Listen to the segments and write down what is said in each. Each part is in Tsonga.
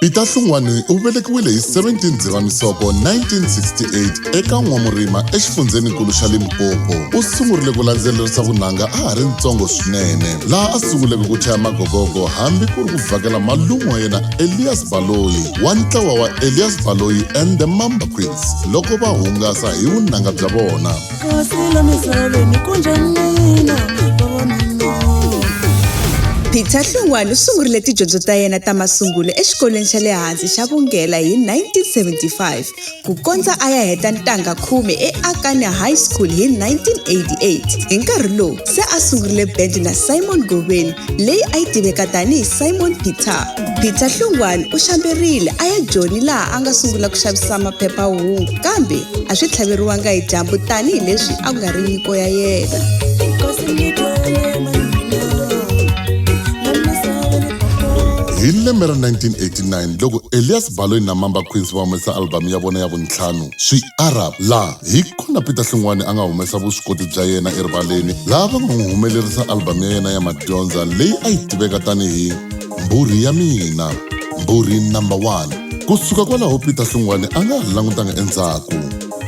Peter Hlungwani u velekiwile hi 17 Dzivamisoko 1968 eka N'wamurima exifundzheninkulu xa Limpopo. U sungurile ku landzelerisa vunanga a ha ri ntsongo swinene, laha a sunguleke ku chaya magogogo hambi ku ri ku vhakela malume wa yena Elias Baloyi wa ntlawa wa Elias Baloyi and the Mamba Queens loko va hungasa hi vunanga bya vona. peter hlungwani u sungurile tidyondzo ta yena ta masungulo exikolweni xa le hansi xa vunghela hi 1975 ku kondza a ya heta ntanga khume eakanya high school hi 1988 hi nkarhi lowu se a sungurile bendi na simon goveni leyi a yi tiveka tanihi simon peter peter hlungwani u xamberile a ya joni laha a nga sungula ku xavisa maphepha-hungu kambe a swi tlhaveriwanga hi dyambu tanihi leswi a ku nga ri nyiko ya yena hi lembe ra 1989 loko elias baloyi na mamba queens va humesa albhamu ya vona ya vuntlhanu swi arab laha hi kona peter hlungwani a nga humesa vuswikoti bya yena erivaleni laha va nga n'wi humelerisa albhamu ya yena ya madyondza leyi a yi tiveka tanihi Mbhurhi ya mina, Mbhurhi Number One. Ku suka kwalaho Peter Hlungwane a nga ha langutanga endzhaku.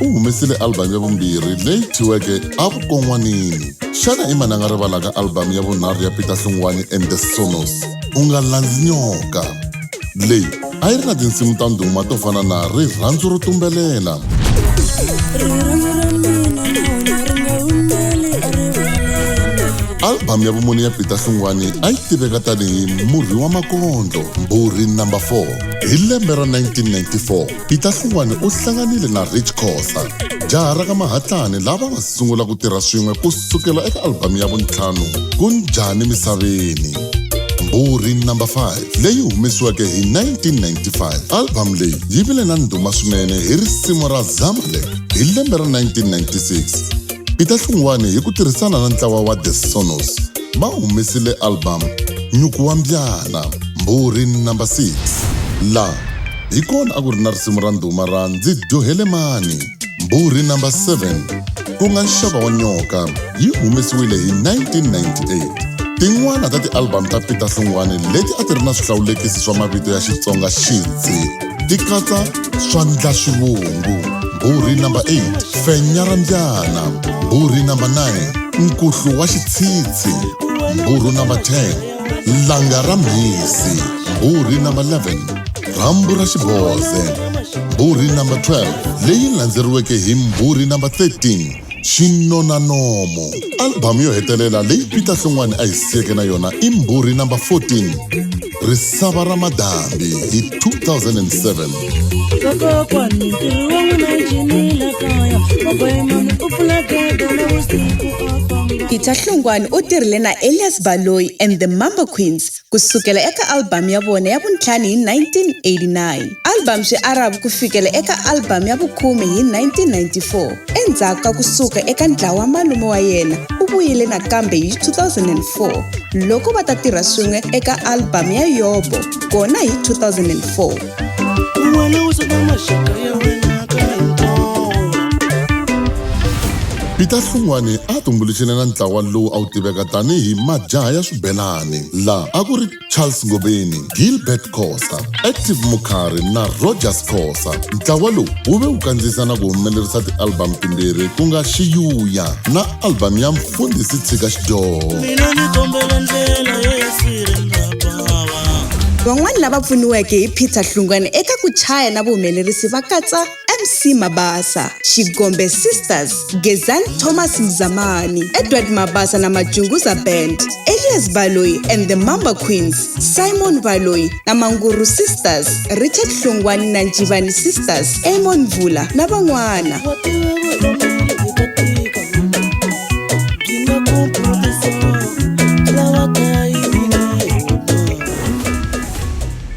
U humesile album ya vumbirhi leyi thyiweke A Vukon'wanini. Xana i mani a nga rivalaka album ya vunharhu ya Peter Hlungwane and the Sonos, U Nga Landzi Nyoka? Leyi a yi ri na tinsimu ta ndhuma to fana na rirhandzu ro tumbelela albhamu ya vumune ya peter hlungwani a yi tiveka tanihi murhi wa makondlo mbhurhi number 4 hi lembe ra 1994 peter hlungwani u hlanganile na rich cosa jaha ra ka mahatlani lava nga sungula ku tirha swin'we ku sukela eka albhamu ya vuntlhanu ku njhani misaveni mbhurhi number 5 leyi humesiweke hi 1995. Album leyi yi vile na ndhuma swinene hi risimu ra Zamle hi lembe ra 1996. Peter Hlungwani hi ku tirhisana na ntlawa wa The Sonos va humesile album Nyuku wa Mbyana, Mbhurhi number 6, laha hi kona a ku ri na risimu ra ndhuma ra Ndzi Dyohele Mani. Mbhurhi number 7, ku nga Nxava wa Nyoka, yi humesiwile hi 1998. Tin'wana ta ti-album ta Peter Hlungwane leti a ti ri na swihlawulekisi swa mavito ya Xitsonga Xidzi ti katsa Swandla Swivungu, Mbhurhi number 8, Fenya ra Mbyana, Mbhurhi number 9, Nkuhlu wa Xitshitshi, Mbhurhu number 10, langa ra mhisi mbhurhi number 11 rhambu ra xiboze mbhurhi number 12 leyi landzeriweke hi mbhurhi number 13 xinona nomo albhamu yo hetelela leyi peter hlongwani a hi siyeke na yona i mbhurhi number 14 risava ra madambi hi 2007 vakokwani ntirho wa n'wina njinile kaya vakoyemani u pfula gede na vusiku afamba peter hlungwani u tirhile na elias baloyi and the mambo queens ku sukela eka albhamu ya vona ya vuntlhanu hi 1989 albhamu swi aravu ku fikela eka albhamu ya vukhume hi 1994 endzhaku ka ku suka eka ntlawa wa malume wa yena u vuyile nakambe hi 2004 loko va ta tirha swin'we eka albhamu ya yobo kona hi 2004 Peter Hlungwane a a tumbuluxile na ntlawa lowu a wu tiveka tanihi Majaha ya Swibelani, laha a ku ri Charles Ngobeni, Gilbert Khosa, Active Mukhari na Rogers Khosa. Ntlawa lowu wu ve wu kandziyisa na ku humelerisa ti-album timbirhi ku nga Xiyuya na albhamu ya Mfundhisi Tshika Xidyoho. Mina ni kombela ndlela ye ya sirendabava. Van'wana lava pfuniweke hi Peter Hlungwane eka ku chaya na vuhumelerisi va katsa MC Mabasa, Xigombe Sisters, Gezani Thomas Mzamani, Edward Mabasa na Majunguza Band, Elias Baloyi and the Mamba Queens. simon valoyi na manguru sisters richard hlungwani na njivani sisters amon mvula na van'wana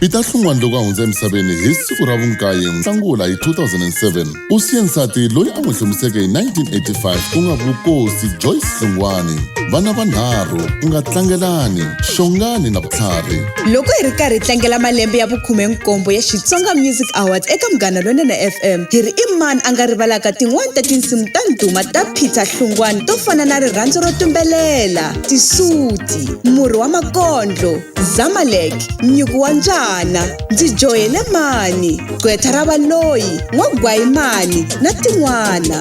peter hlungwani loko a hundza emisaveni hi siku ra vunkaye nhlangula hi 2007 U siye nsati loyi a n'wi hlomiseke hi 1985 ku nga Vukosi Joyce Hlungwani, vana vanharhu ku nga Tlangelani, Xongani na Vutlhari. Loko hi ri karhi hi tlangela malembe ya vukhume-nkombo ya Xitsonga Music Awards eka Munghana Lonene FM, hi ri i mani a nga rivalaka tin'wana ta tinsimu ta ndhuma ta Peter Hlungwani to fana na Rirhandzu ro Tumbelela, Tisuti, Murhi wa Makondlo, Zamalek, Nyuku wa Mbyana, Ndzi Joyele Mani, gqwetha ra valoyi n'wagwayimani na tin'wana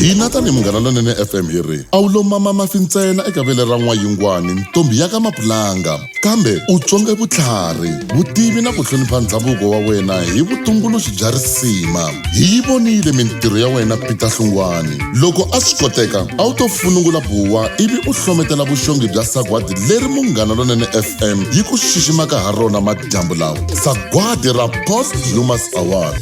hina tanihi munghana lonene fm hi ri a wu lo mama mafi ntsena eka vele ra n'wayingwani ntombi ya ka mapulanga kambe u tswonge vutlhari vutivi na ku hlonipha ndhavuko wa wena hi vutumbuluxi bya risima hi yi vonile mintirho ya wena peter hlungwani loko a swi koteka a wu to funungula buwa ivi u hlometela vuxongi bya sagwadi leri munghana lonene fm yi ku xiximaka ha rona madyambu lawa sagwadi ra post humas award